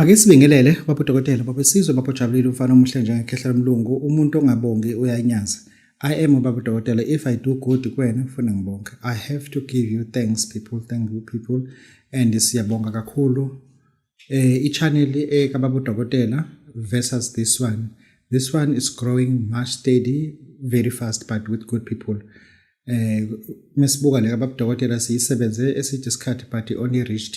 Ake sibingelele baba dokotela baba sizwe baba jabulile umfana omuhle njengekhehla lomlungu umuntu ongabongi uyanyaza I am baba dokotela if I do good kuwena ngifuna ngibonke I have to give you thanks people thank you people and siyabonga kakhulu eh i-channel eh kababa dokotela versus this one this one is growing much steady very fast but with good people eh mesibuka le kababa dokotela siyisebenze eside isikhathi but only reached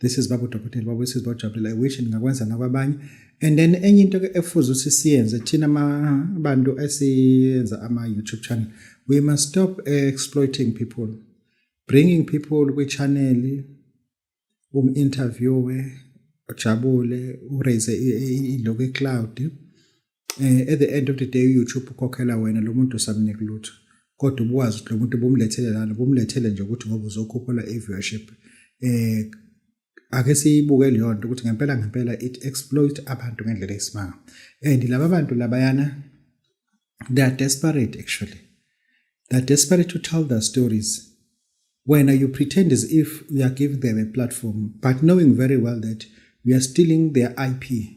this is babu dokotela babu this is babu jabulile i wish ningakwenza nakwabanye and then enye into ke efuze ukuthi siyenze thina abantu esiyenza ama YouTube channel we must stop exploiting people bringing people kwi channel um interviewe ujabule uraise iloku ecloud eh at the end of the day YouTube ukhokhela wena lo muntu usamnika lutho kodwa ubukwazi ukuthi lo muntu ubumlethele lana ubumlethele nje ukuthi ngoba uzokhuphula i-viewership eh ake siyibuke leyo nto ukuthi ngempela ngempela it exploit abantu ngendlela eyisimanga and laba bantu labayana they are desperate actually they are desperate to tell their stories when you pretend as if you are giving them a platform but knowing very well that you are stealing their ip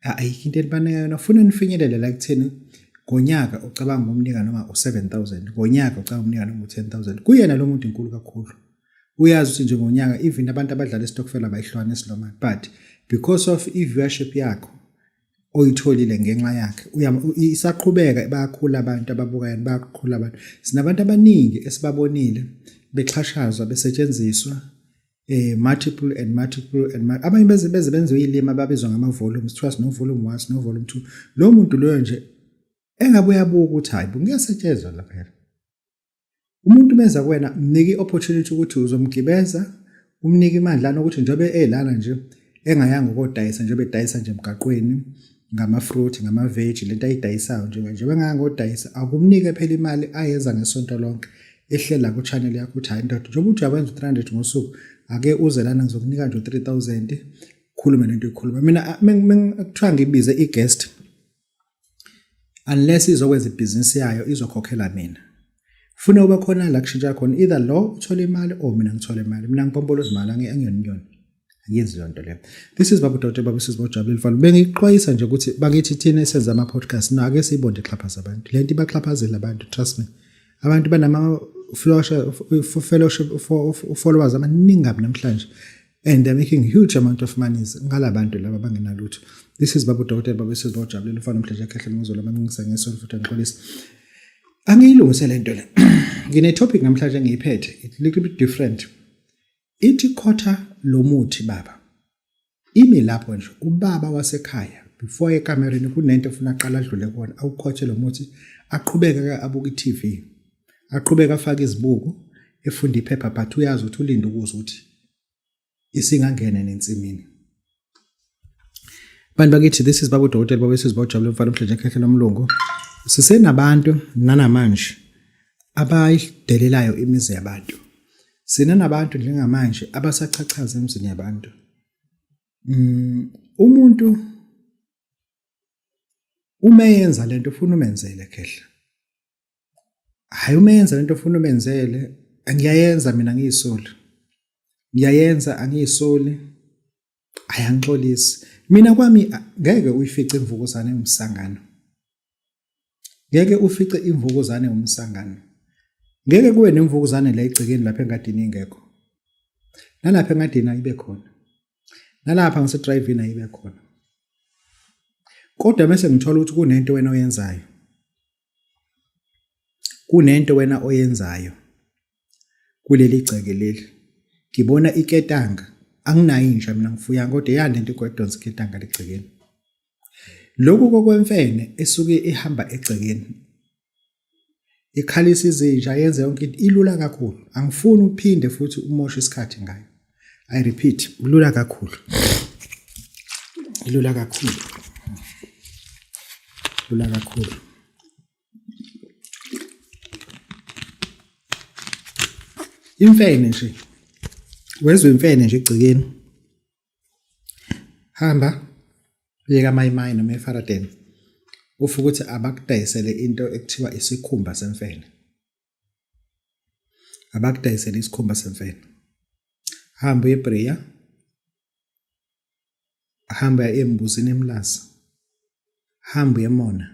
ayikho into elibanika yona funa nifinyelele la kutheni ngonyaka ucabanga umnika noma u7000 ngonyaka ucabanga umnika noma u10000 kuyena lo muntu inkulu kakhulu uyazi ukuthi nje ngonyaka even abantu abadlala istokfela bayihlwana esilomani but because of i-viewership yakho oyitholile ngenxa yakhe isaqhubeka bayakhula abantu ababukayo bayakhula abantu sinabantu abaningi esibabonile bexhashazwa besetshenziswa eh multiple and multiple and multiple. abanye beze beze benze uyilima babizwa ngama volumes kuthiwa sino volume 1 sino volume 2 lo muntu loyo nje engabe uyabuka ukuthi hayi ngiyasetshezwa lapha phela umuntu meza kuwena mnike i-opportunity ukuthi uzomgibeza umnike imandla nokuthi njengoba elana nje engayanga kodayisa njengoba edayisa nje emgaqweni ngamafruit ngamaveji lento ayidayisayo njenganje bengangodayisa akumnike phela imali ayenza ngesonto lonke ehlela ku-channel yakho ukuthi hhayi ndoda njengoba uthi uyawenza u-300 ngosuku ake uze lana ngizokunika nje u-3000 khulume lento ikhuluma mina kuthiwa ngibize i-guest unless izokwenza ibhizinisi yayo izokhokhela mina funa uba khona la kushintsha khona either lo uthole imali or mina ngithole imali mina ngipompolo zimali angiyoniyona angiyenzi leyo nto leyo this is babu dote babu sisi bojabulile fana bengixwayisa nje ukuthi bakithi thina esenza ama-podcast no ake siyibonde ixhaphaza abantu le nto ibaxhaphazela abantu trust me abantu banama-followers abaningi kabi namhlanje and they're making huge amount of monies ngala bantu laba bangenalutho this is babu dokotela babu sisi bajabulela ufana umdlesha khehle ngizolo maningisa ngesonto futhi ngixolisa angiyilungise le nto le ngine topic namhlanje ngiyiphethe it little bit different ithi khotha lo muthi baba imi lapho nje ubaba wasekhaya before ekamereni kunento efuna aqala adlule kona awukhothe lo muthi aqhubeke abuke i-TV Aqhubeka afake izibuko efunda iphepha but uyazi ukuthi ulinde ukuzwa ukuthi isingangena nensimini. Bantu bakithi this is babu dokotela babu sisi bawujabule mfana umhlanje ekhehlela umlungu. Sisenabantu nanamanje abayidelelayo imizi yabantu. Sina nabantu njengamanje abasachachaza emzini yabantu. Mm, umuntu uma yenza lento ufuna umenzele khehla hayi umenza lento ofuna umenzele ngiyayenza mina ngiyisoli ngiyayenza angiyisoli hayi angixolisi mina kwami ngeke uyifice imvukuzane umsangano ngeke ufice imvukuzane umsangano ngeke kuwe nemvukuzane la egcekeni lapha engadini ingekho nalapha engadini ayibe khona nalapha ngisedrayivini ayibe khona kodwa mese ngithola ukuthi kunento wena oyenzayo kunento wena oyenzayo kuleli gceke leli ngibona iketanga anginayo inja mina ngifuya kodwa eyande into kodonsa iketanga ligcekeni lokhu kokwemfene esuke ihamba egcekeni ikhalisa izinja yenze yonke into ilula kakhulu angifuni uphinde futhi umoshe isikhathi ngayo I repeat, kulula kakhulu. Kulula kakhulu. Kulula kakhulu. Imfene nje. Wezwe imfene nje egcikeni. Hamba uyeka mayimayi noma efaradeni. Ufukuthi abakudayisele into ekuthiwa isikhumba semfene. abakudayisele isikhumba semfene hamba eBrea hamba embuzini emlazi hamba emona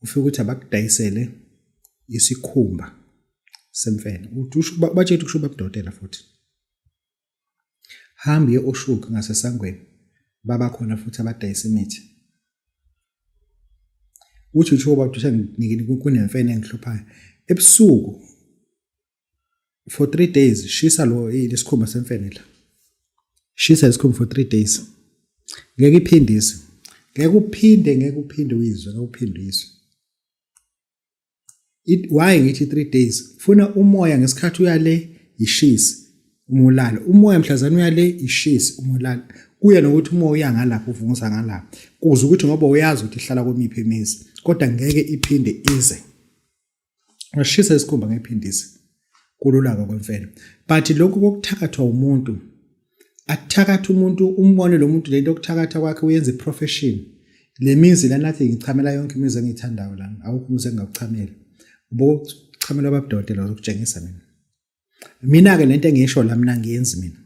ufike ukuthi abakudayisele isikhumba semfene uthi usho batshela ukuthi usho babudotela futhi Hamba uye oshuki ngasesangweni baba khona futhi abadayisa imithi. Uthi usho uba udusha ngikini kunemfene engihluphayo. Ebusuku for 3 days shisa lo lesikhumba semfene la. Shisa lesikhumba for 3 days. Ngeke iphindise. Ngeke uphinde ngeke uphinde uyizwe ngeke uphinde uyizwe. it why ngithi 3 days funa umoya ngesikhathi uyale ishisi umulala umoya mhlazana uyale ishisi umulala kuye nokuthi umoya uya ngalapha uvunguza ngalapha kuze ukuthi ngoba uyazi ukuthi ihlala komiphi imizi kodwa ngeke iphinde ize ngashisa isikhumba ngephindisi kululaka okwemfene but lokhu kokuthakathwa umuntu akuthakatha umuntu umbone lo muntu lento okuthakatha kwakhe uyenza iprofession le mizi la nathi ngichamela yonke imizi engiyithandayo lana awukho umuzi engingakuchamela ubokuchamela ababudodela uzokutshengisa mina mina-ke le nto engiyisho la mina ngiyenzi mina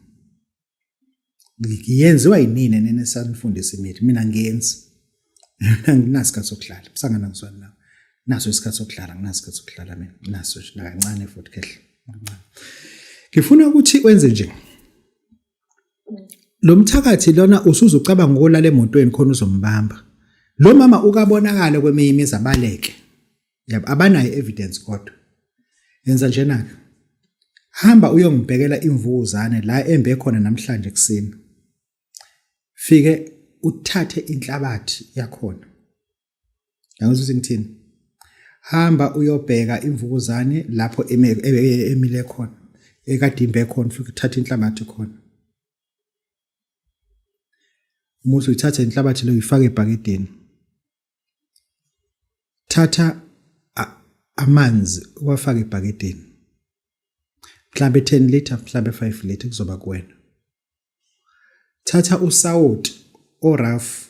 ngiyenziwa yinini nene sanifundisa imithi mina ngiyenzi anginasikhathi sokuhlala msangana ngizwana nawe naso isikhathi sokuhlala nginasikhathi sokuhlala mina naso nakancane futhi kehle kancane ngifuna ukuthi wenze nje lo mthakathi lona usuze ucabanga ukolala emotweni khona uzombamba lo mama ukabonakala kweminye imizi abaleke yabo abanayo evidence kodwa yenza njena ke hamba uyongibhekela imvukuzane la embe khona namhlanje kuseni fike uthathe inhlabathi yakhona yangizwa ukuthi ngithini hamba uyobheka imvukuzane lapho emile khona ekadimbe khona futhi uthathe inhlabathi khona umuthi uyithathe inhlabathi leyo uyifake ebhakedeni thatha amanzi uwafake ebhakedeni mhlambe 10 liter mhlambe 5 liter kuzoba kuwena thatha usawoti oraf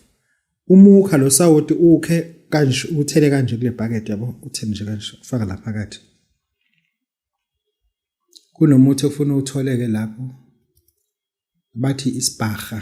umukha lo sawoti ukhe kanje uthele kanje kule bucket yabo uthele nje kanje ufaka la phakathi kunomuthi ofuna utholeke lapho bathi isibhaha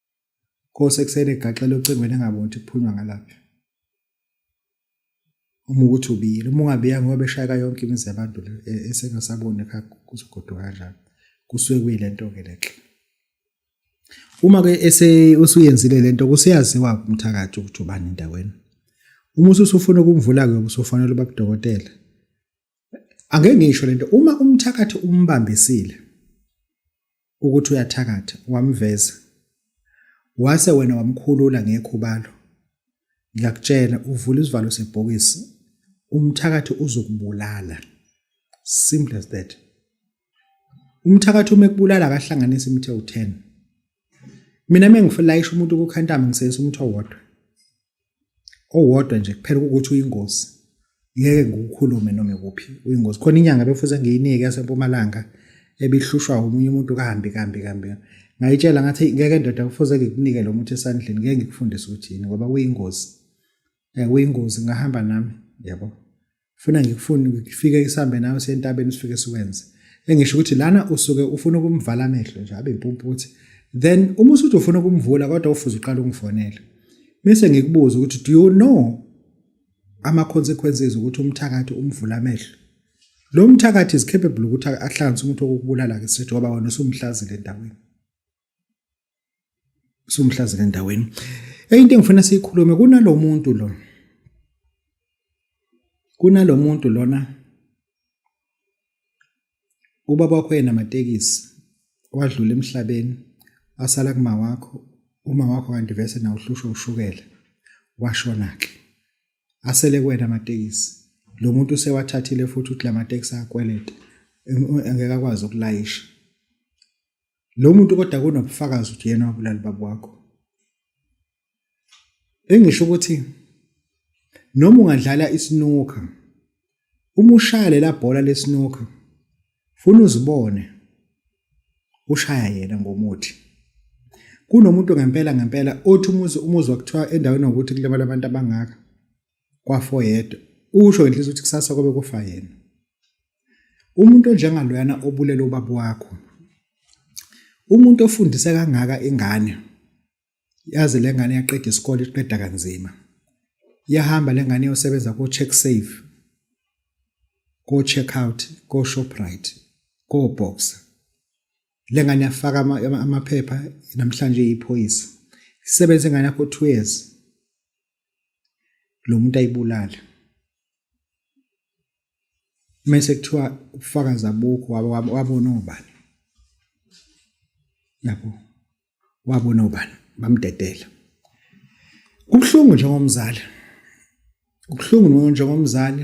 Kose kusele egaxela ocingweni engaboni kuphunywa ngalapha. Uma ukuthi ubiyile, uma ungabiya ngoba beshayeka yonke imizi yabantu le e-, esengasaboni ekhaya kuzogoduka kanjani. Kusuke kuyilento ke lenhle. Uma ke ese usuyenzile lento kuseyaziwa umthakathi ukuthi ubani endaweni. Uma usufuna ukumvula ke usufanele ubabudokotela. Angeke ngisho lento uma umthakathi umbambisile ukuthi uyathakatha wamveza wase wena wamkhulula ngekhubalo ngiyakutshela uvula isivalo sebhokisi umthakathi uzokubulala simple as that umthakathi uma ekubulala akahlanganisa imithe u10 mina mengifulayisha umuntu kukhantama ngiseyisa umuntu owodwa owodwa nje kuphela ukuthi uyingozi ngeke ngikukhulume noma ikuphi uyingozi khona inyanga befuze ngiyinike yasempumalanga ebihlushwa umunye umuntu kambi kambi kambi ngayitshela ngathi ngeke ndoda kufuze ngikunike lo muthi esandleni ngeke ngikufundise ukuthi yini ngoba uyingozi eh uyingozi ngahamba nami yabo funa ngikufuni ngifike isambe nawe sentabeni sifike siwenze engisho ukuthi lana usuke ufuna ukumvala amehlo nje abe impumputhi then uma usuthi ufuna ukumvula kodwa ufuze uqala ungifonele bese ngikubuza ukuthi do you know ama consequences ukuthi umthakathi umvula amehlo lo mthakathi is capable ukuthi ahlanganise umuntu okubulala ke sithi ngoba wena usumhlazile endaweni somhlazile endaweni enye into engifuna siyikhulume kunalo muntu lo kunalo muntu lona ubaba wakho yena amatekisi wadlula emhlabeni asala kuma wakho uma wakho kanti vese na uhlushwa ushukela washona ke asele kwena amatekisi lo muntu usewathathile futhi uthi lamatekisi akweleta engeke akwazi ukulayisha lo muntu kodwa kunobufakazi ukuthi yena wabulala baba wakho engisho ukuthi noma ungadlala isinuka uma ushaya lela bhola lesinuka funa uzibone ushaya yena ngomuthi kunomuntu ngempela ngempela othi umuzi umuzi wakuthiwa endaweni yokuthi kulimala abantu abangaka kwafo yedwa usho inhliziyo ukuthi kusasa kobe kufa yena umuntu onjengaloyana obulele ubaba wakho umuntu ofundise kangaka ingane yazi lengane yaqeda isikole iqeda kanzima yahamba lengane yosebenza ko check save ko check out ko shoprite ko boxer lengane yafaka amaphepha namhlanje iphoyisa isebenze ngane yakho 2 years lo muntu ayibulale mase kuthiwa ubufakazi abukho wabona obani yabo wabona obani bamdedela kubuhlungu njengomzali kubuhlungu njengomzali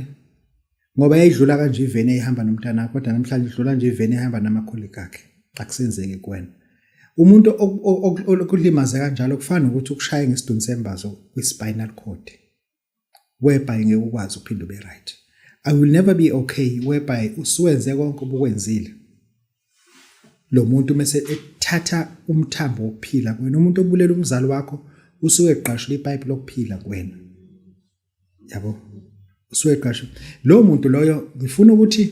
ngoba yayidlula kanje iveni eyihamba nomntanakho kodwa namhlanje idlula nje iveni ehamba namakhulika akhe akusenzeki kuwena umuntu okulimaze kanjalo kufana nokuthi ukushaye ngesiduni sembazo kwi-spinal cord whereby ngeke ukwazi uphinde ube right i will never be okay whereby usuwenze konke obukwenzile lo muntu mese ethatha umthambo wokuphila kuwena umuntu obulela umzali wakho usuke egqashula ipipe lokuphila kuwena yabo usuyeqasha lowo muntu loyo ngifuna ukuthi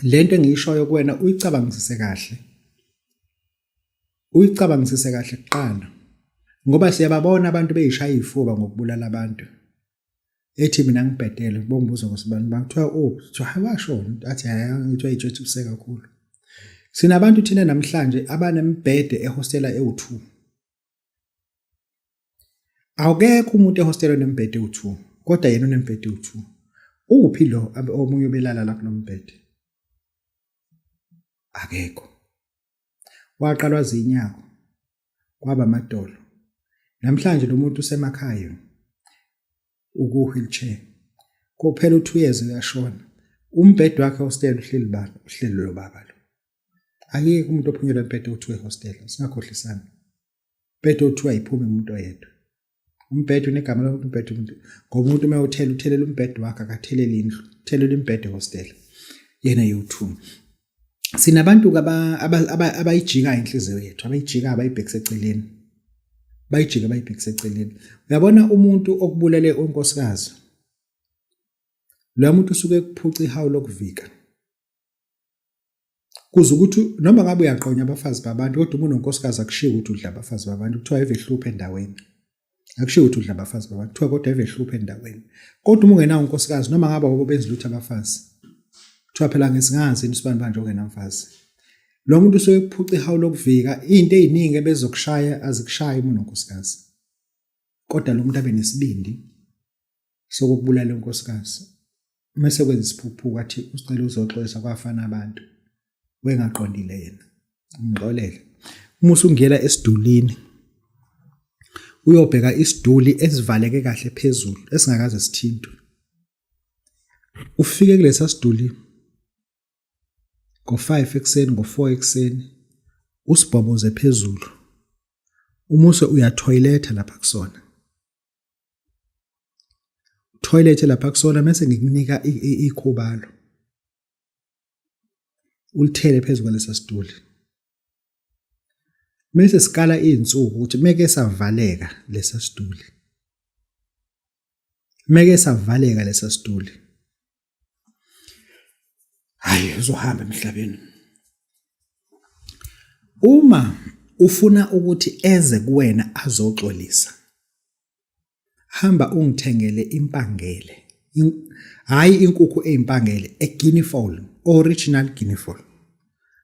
lento engiyishoyo kuwena uyicabangisise kahle uyicabangisise kahle kuqala ngoba siyababona abantu beyishaya izifuba ngokubulala abantu ethi mina ngibhedele bongibuza ukuthi abantu bakuthiwa oh kuthiwa hawasho athi hayi ngithiwa ijethi kuse kakhulu sinabantu thina namhlanje abanembhede ehostela ewu2 Awukekho umuntu ehostelwe nembhede u2 kodwa yena unembhede u2. Uphi lo omunye obelala la kulombhede? Akekho. Waqalwa zinyako kwaba amadolo. Namhlanje lo muntu usemakhaya uku wheelchair. Kophela u2 years uyashona. Umbhede wakhe hostel uhleli bani? Uhleli lo baba lo. Akekho umuntu ophunyelwa embhede u2 ehostel. Singakhohlisana. umbhede othiwa ayiphume umuntu oyedwa umbhede unegama lomuntu umbhede umuntu ngoba umuntu uma uthela uthelela umbhede wakhe akatheleli indlu uthelela imbhede hostela yena yothuma sinabantu abayijikayo inhliziyo yethu abayijikayo abayibhekise eceleni bayijike bayibhekise eceleni uyabona umuntu okubulele unkosikazi lo muntu usuke kuphuca ihawu lokuvika kuze ukuthi noma ngabe uyaqonya abafazi babantu kodwa uma unonkosikazi akushiwo ukuthi udla abafazi babantu kuthiwa eve hluphe endaweni akushiwo ukuthi udla abafazi babantu kuthiwa kodwa eve hluphe endaweni kodwa uma ungenawo unkosikazi noma ngabe awubo benza lutho abafazi kuthiwa phela ngesingazi yini usibani banje ongenamfazi lo muntu usuke kuphuca ihawu lokuvika into eziningi ebezokushaya azikushaya uma unonkosikazi kodwa lo muntu abe nesibindi sokubulala unkosikazi uma sekwenza isiphuphuko athi usicela uzoxolisa kwafana abantu wengaqondile yena ngixolele uma usungena esidulini uyobheka isiduli esivaleke kahle phezulu esingakaze sithintwe ufike kulesa siduli ngo-5 ekuseni ngo-4 ekuseni usibhoboze phezulu umuse uyathoyiletha lapha kusona toilet lapha kusona mase ngikunika ikhobalo ulithele phezu kwalesa situlo mase sikala izinsuku ukuthi meke savaleka lesa situlo meke savaleka lesa situlo hayi uzohamba emhlabeni uma ufuna ukuthi eze kuwena azoxolisa hamba ungithengele impangele hayi inkukhu ezimpangele e guinea fowl original guinea fowl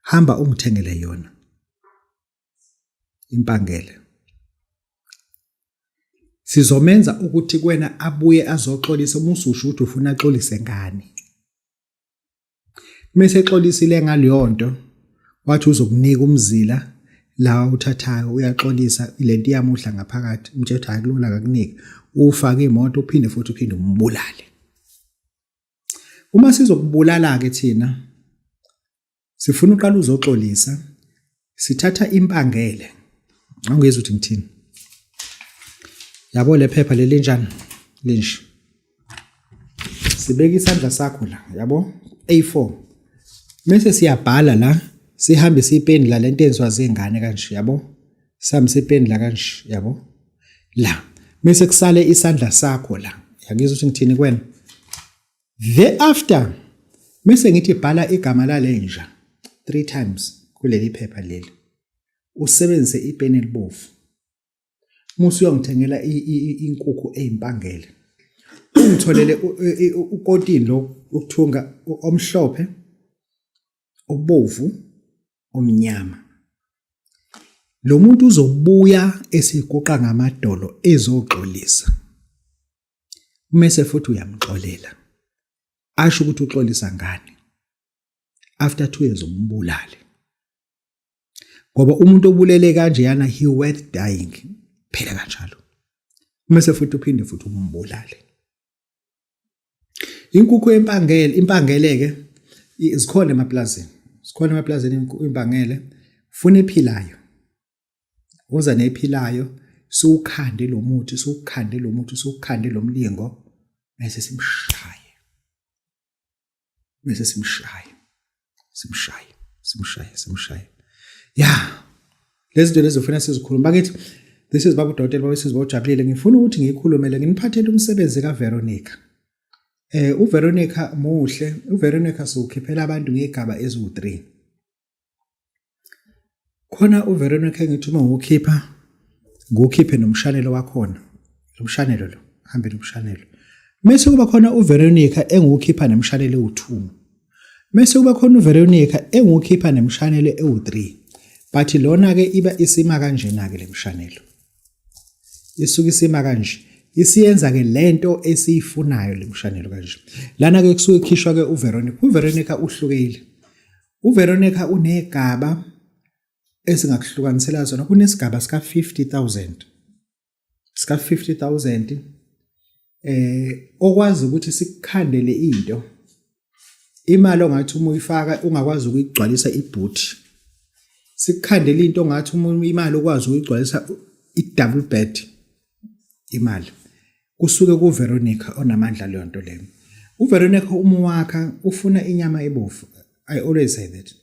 hamba ungithengele yona impangele sizomenza ukuthi kwena abuye azoxolisa uma ususho ukuthi ufuna axolise ngani mese exolisile ngaleyo nto wathi uzokunika umzila la uthathayo uyaxolisa lento iyamuhla ngaphakathi umthetho hayi kulona akakunika ufake imoto uphinde futhi uphinde umbulale uma sizokubulala ke thina sifuna uqala uzoxolisa sithatha impangele angizwa ukuthi ngithini yabo lephepha lelinjani linje sibeka isandla sakho la yabo A4 mase siyabhala la sihambe sipeni la lento enzwa zingane kanje yabo sihambe sipeni la kanje yabo la mase kusale isandla sakho la yangizwa ukuthi ngithini kwena Thereafter mese ngithi bhala igama lalenja three times kuleli phepha leli usebenzise ipeni elibovu musu uyongithengela inkukhu ezimpangele ungitholele ukotini lo ukuthunga omhlophe obovu omnyama lo muntu uzobuya esiguqa ngamadolo ezoxolisa umese futhi uyamxolela asho ukuthi uxolisa ngani after 2 years umbulale ngoba umuntu obulele kanje yana he worth dying phela kanjalo umese futhi uphinde futhi umbulale inkukhu empangele impangeleke zikhona emaplazini zikhona emaplazini impangele funa ephilayo uza nephilayo siwukhande lo muthi siwukhande lo muthi siwukhande lo mlingo bese simshaye bese simshaye simshaye simshaye simshaye ya lezi zinto lezi ufuna sizikhuluma bakithi this is babu dokotela babu siziba ujabulile ngifuna ukuthi ngikhulumele nginiphathele umsebenzi ka Veronica eh uVeronica muhle uVeronica sokhiphela abantu ngegaba eziwu3 khona uveronica ngithi uma ngiwukhipha ngiwukhiphe nomshanelo wakhona lo mshanelo lo hambe nomshanelo mese kuba khona uveronica engiwukhipha nemshanelo ewu-two mese kuba khona uveronica engiwukhipha nemshanelo ewu-three but lona-ke iba isima kanjena-ke le mshanelo isuke isima kanje isiyenza-ke le nto esiyifunayo le mshanelo kanje lana-ke kusuke kukhishwa-ke uveronica uveronica uhlukile UVeronica unegaba esingakuhlukanisela zona kunesigaba sika 50000 sika 50000 eh okwazi ukuthi sikukhandele into imali ongathi uma uyifaka ungakwazi ukuyigcwalisa ibhuthi sikukhandela into ongathi uma imali ukwazi ukuyigcwalisa i-double bed imali kusuke kuVeronica onamandla leyo nto leyo uVeronica uma wakha ufuna inyama ebovu i always say that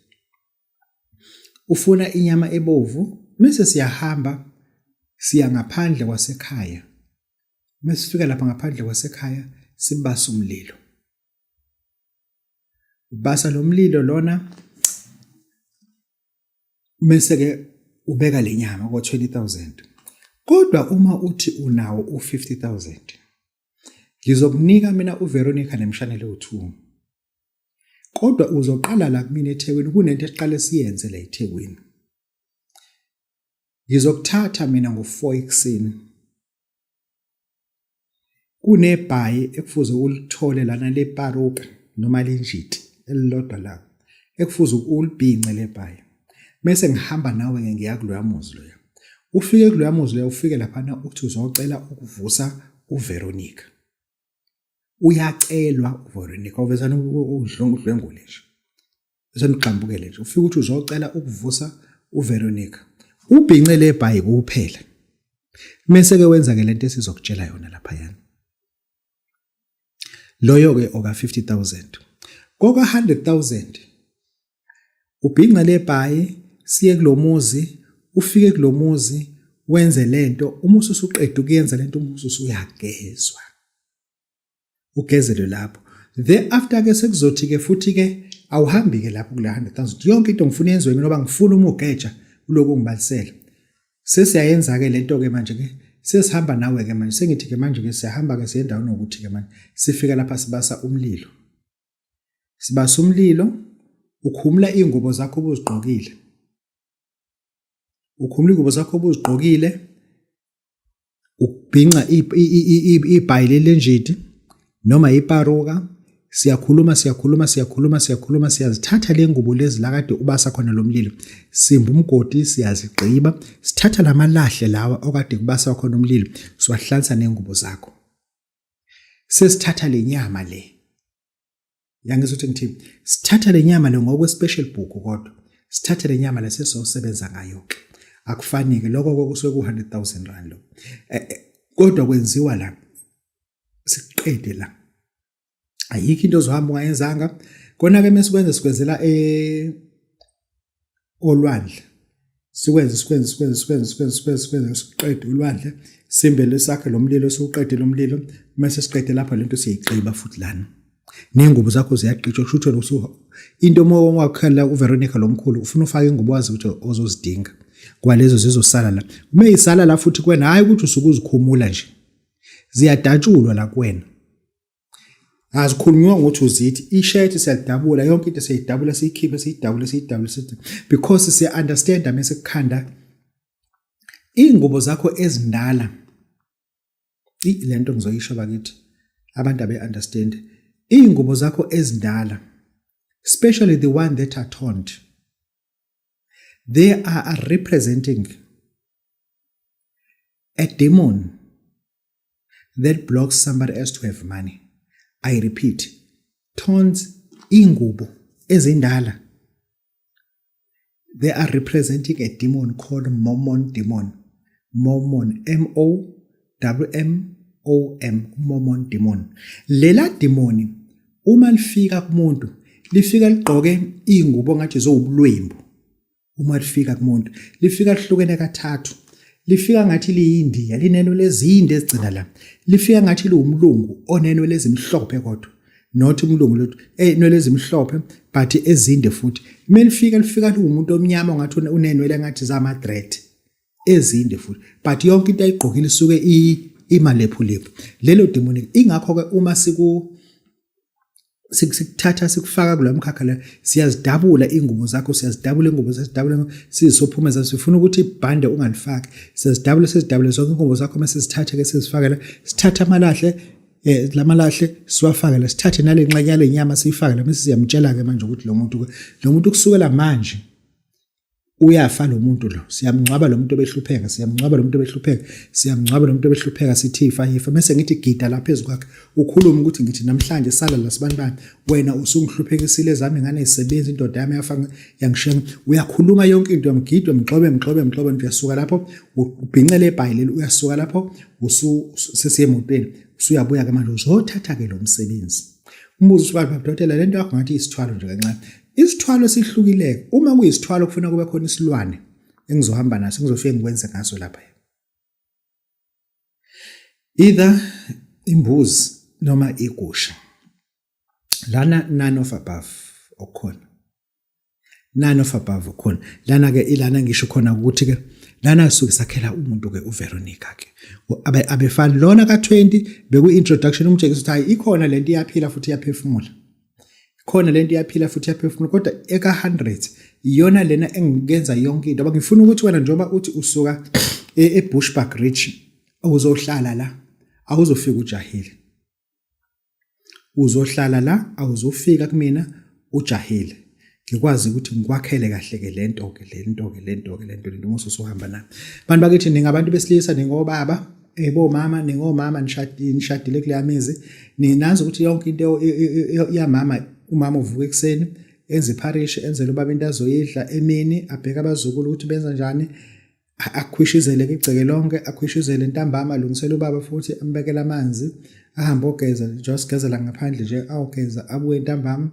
ufuna inyama ebovu mase siyahamba siya ngaphandle kwasekhaya mase sifika lapha ngaphandle kwasekhaya sibasa umlilo ubasa lo mlilo lona mese ke ubeka lenyama ko 20000 kodwa uma uthi unawo u 50000 ngizokunika mina uVeronica nemshanele u2 kodwa uzoqala la kumina eThekwini kunento esiqale siyenze la eThekwini ngizokuthatha mina ngo 4 ekseni kunebhayi ekufuze ulithole lana leparuka noma linjiti elilodwa la ekufuze ulibhince lebhayi mese ngihamba nawe ke ngiya kuloya muzi loya ufike kuloya muzi loya ufike laphana uthi uzocela ukuvusa uVeronica uyacelwa uVeronica uvezana udlwengule nje senigxambukele nje ufike ukuthi uzocela ukuvusa uVeronica ubhince lebhayi kuphela mese ke wenza ke lento esizokutshela yona lapha yana loyo ke oka 50000 koka 100000 ubhinca lebhayi siye kulomuzi ufike kulomuzi wenze lento uma ususuqeda ukuyenza lento uma ususuyagezwa ugezelwe lapho the after ke sekuzothi ke futhi ke awuhambi ke lapho kule 100000 yonke into ngifuna yenziwe mina oba ngifuna uma ugeja uloku ngibalisela sesiyayenza ke lento ke manje ke sesihamba nawe ke manje sengithi ke manje ke siyahamba ke siyendawo nokuthi ke manje sifika lapha sibasa umlilo sibasa umlilo ukhumula ingubo zakho obuzigqokile ukhumula ingubo zakho obuzigqokile ukubhinca ibhayi lelenjidi noma iparuka siyakhuluma siyakhuluma siyakhuluma siyakhuluma siyazithatha le ngubo lezi la kade ubasa khona lo mlilo simba umgodi siyazigqiba sithatha la malahle lawa okade kubasa khona umlilo siwahlansa nengubo zakho sesithatha le nyama le yangizwa ukuthi ngithi sithatha le nyama le ngokwe-special book kodwa sithathe le nyama le sesosebenza ngayo-ke akufanike lokho kokusuke ku-hundred thousand rand lo eh, eh, kodwa kwenziwa la siqede la ayikho into ozohamba ungayenzanga kona-ke mesikwenze sikwenzela e-, olwandle sikwenze sikwenze sikwenze sikwenze sikwenze sikwenze sikwenze siqede ulwandle simbele sakhe lo mlilo siwuqede lo mlilo mase siqede lapha lento siyigqiba futhi lana nengubo zakho ziyaqitshwa kusho ukuthi usuha into uma wakhala uVeronica lomkhulu ufuna ufake ingubo wazi ukuthi ozozidinga kwalezo zizosala la uma isala la futhi kwena hayi ukuthi usukuzikhumula nje ziyadatshulwa la kwena azikhulunywa ngokuthi uzithi ishirt siyalidabula yonke into siyidabula siyikhiphe siyidabule siyidabule sithi because siya understand mase kukhanda ingubo zakho ezindala lento ngizoyisho bakithi abantu abe understand ingubo zakho ezindala especially the one that are toned they are representing a demon that blocks somebody else to have money i repeat tones ingubo ezindala they are representing a demon called mormon demon mormon m o w m o m mormon demon lela demoni uma lifika kumuntu lifika ligqoke ingubo ngathi zowubulwembu uma lifika kumuntu lifika lihlukene kathathu lifika ngathi liyindiya lineno lezinde ezigcina la lifika ngathi liwumlungu oneno lezimhlophe kodwa not umlungu lutho enwele eh, ezimhlophe but ezinde futhi melifika lifika liwumuntu omnyama ngathi unenwele ngathi zama threat ezinde futhi but yonke into ayigqokile isuke imalephulephu lelo demonic ingakho ke uma siku sikuthatha sikufaka kula mkhakha la siyazidabula ingubo zakho siyazidabula ingubo siyazidabula sizisophuma sifuna ukuthi ibhande ungalifaki siyazidabula sizidabule zonke ingubo zakho uma sizithathe ke sizifakela sithatha amalahle eh lamalahle siwafake la sithathe nale nxenyane lenyama siyifake la mase siyamtshela ke manje ukuthi lo muntu lo muntu kusukela manje uyafa lo muntu lo siyamngcwaba lo muntu obehlupheka siyamngcwaba lo muntu obehlupheka siyamngcwaba lo muntu obehlupheka sithi ifa ifa mese ngithi gida lapha phezu kwakhe ukhuluma ukuthi ngithi namhlanje sala la sibantu bami wena usungihluphekisile ezami ngane isebenza indoda yami yafa yangishenga uyakhuluma yonke into yamgidwa mgxobe mgxobe mgxobe uyasuka lapho ubhincele ebhayi leli uyasuka lapho usu sesiyemotweni usuyabuya ke manje uzothatha ke lo msebenzi umbuzo usuka lapha dokotela lento yakho ngathi isithwalo nje kancane Isithwalo esihlukileke uma kuyisithwalo kufuna kube khona isilwane engizohamba naso ngizofike ngikwenze ngaso lapha. Either imbuzi noma igusha. Lana none of above okukhona. None of above okukhona. Lana ke ilana ngisho khona ukuthi ke lana kusuke sakhela umuntu ke uVeronica ke abe abefani lona ka20 beku introduction umtshekisa ukuthi hayi ikhona lento iyaphila futhi iyaphefumula khona lento iyaphila futhi iyaphefumula kodwa eka 100 iyona lena engikenza yonke into ngifuna ukuthi wena njengoba uthi usuka e, eBushbuck Ridge uzohlala la awuzofika ujahile uzohlala la awuzofika kumina ujahile ngikwazi ukuthi ngikwakhele kahle-ke le nto-ke le nto-ke le nto-ke le nto le nto uma ususuhamba nami bantu bakithi ningabantu besilisa ningobaba ebomama eh, ningomama nishadile kuleya mizi ninazi ukuthi yonke into yamama umama uvuka ekuseni enze ipharishi enzele ubaba into azoyidla emini abheke abazukulu ukuthi benza njani akhwishizele igceke lonke akhwishizele intambama alungisele ubaba futhi ambekele amanzi ahambe ogeza just gezela ngaphandle nje awugeza abuye intambama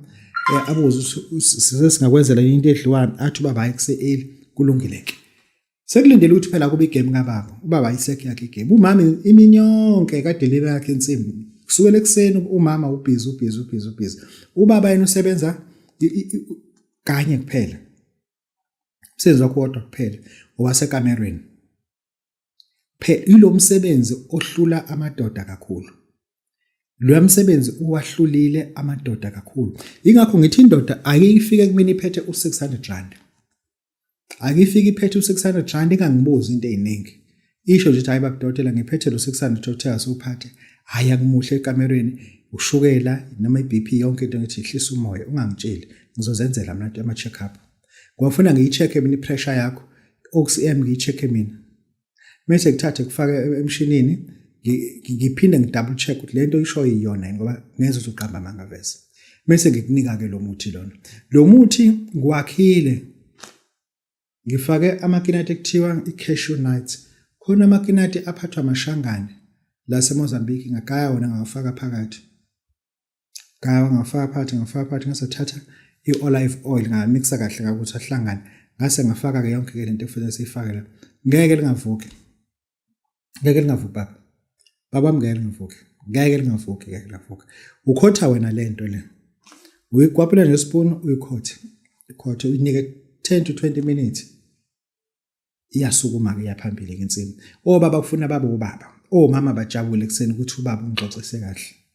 eh, abuze size singakwenzela into edliwani athi ubaba hayi kuseeli kulungile ke sekulindele ukuthi phela kube igame kababa ubaba ayisekho yakhe igame umama imini yonke kadelile yakhe insimbi kusukela ekuseni umama ubhizi ubhizi ubhizi ubhizi ubaba yena usebenza kanye kuphela umsebenzi wakho kodwa kuphela owasekamerweni phela ilo msebenzi ohlula amadoda kakhulu lo msebenzi uwahlulile amadoda kakhulu ingakho ngithi indoda ayifike kumina iphethe u600 rand akifike iphethe u600 rand ingangibuzi into eziningi isho nje ukuthi hayi bakudokotela ngiphethe lo 600 dokotela sophathe hayi akumuhle ekamereni ushukela noma iBP yonke into ngithi ihlisa umoya ungangitsheli ngizozenzela mina ama check up ngiyafuna ngiyicheck mina ipressure yakho oxm ngiyicheck mina mase kuthathe kufaka emshinini ngiphinde ngidouble check ukuthi lento ishoyo iyona ngoba ngeze uzoqamba amanga vese mase ngikunika ke lo muthi lona lo muthi ngiwakhile Ngifake amakinati ekuthiwa i-cashew nuts. Khona amakinati aphathwa amashangane la seMozambique ngagaya wona ngawafaka phakathi. Ngaya ngafaka phakathi ngafaka phakathi ngase thatha i-olive oil ngamixa kahle kakuthi ahlangane. Ngase ngafaka-ke yonke-ke le nto ekufanele siyifake la. Ngeke lingavuki. ngeke lingavuki baba baba ngeke lingavuki ngeke lingavuki ngeke lingavuki ukhotha wena le nto le uyikwapula nespoon uyikhothe ikhothe uyinike 10 to 20 minutes iyasukuma-ke iyaphambili ke insimu obaba kufuna babe ubaba omama bajabule ekuseni ukuthi ubaba ungixoxise kahle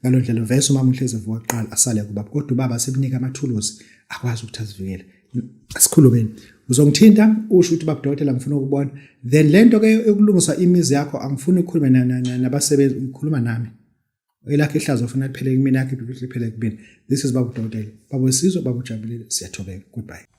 ngalo ndlela vese umama uhlezi evuka kuqala asale kubaba kodwa ubaba sekunika amathuluzi akwazi ukuthi azivikele asikhulumeni uzongithinta usho ukuthi babudokotela ngifuna ukubona then lento ke yokulungisa imizi yakho angifuni ukukhuluma nabasebenzi ngikhuluma nami elakhe ihlazo ufuna liphele kumina yakhe liphele kumina this is babudokotela babosizwe babujabulile siyathobeka goodbye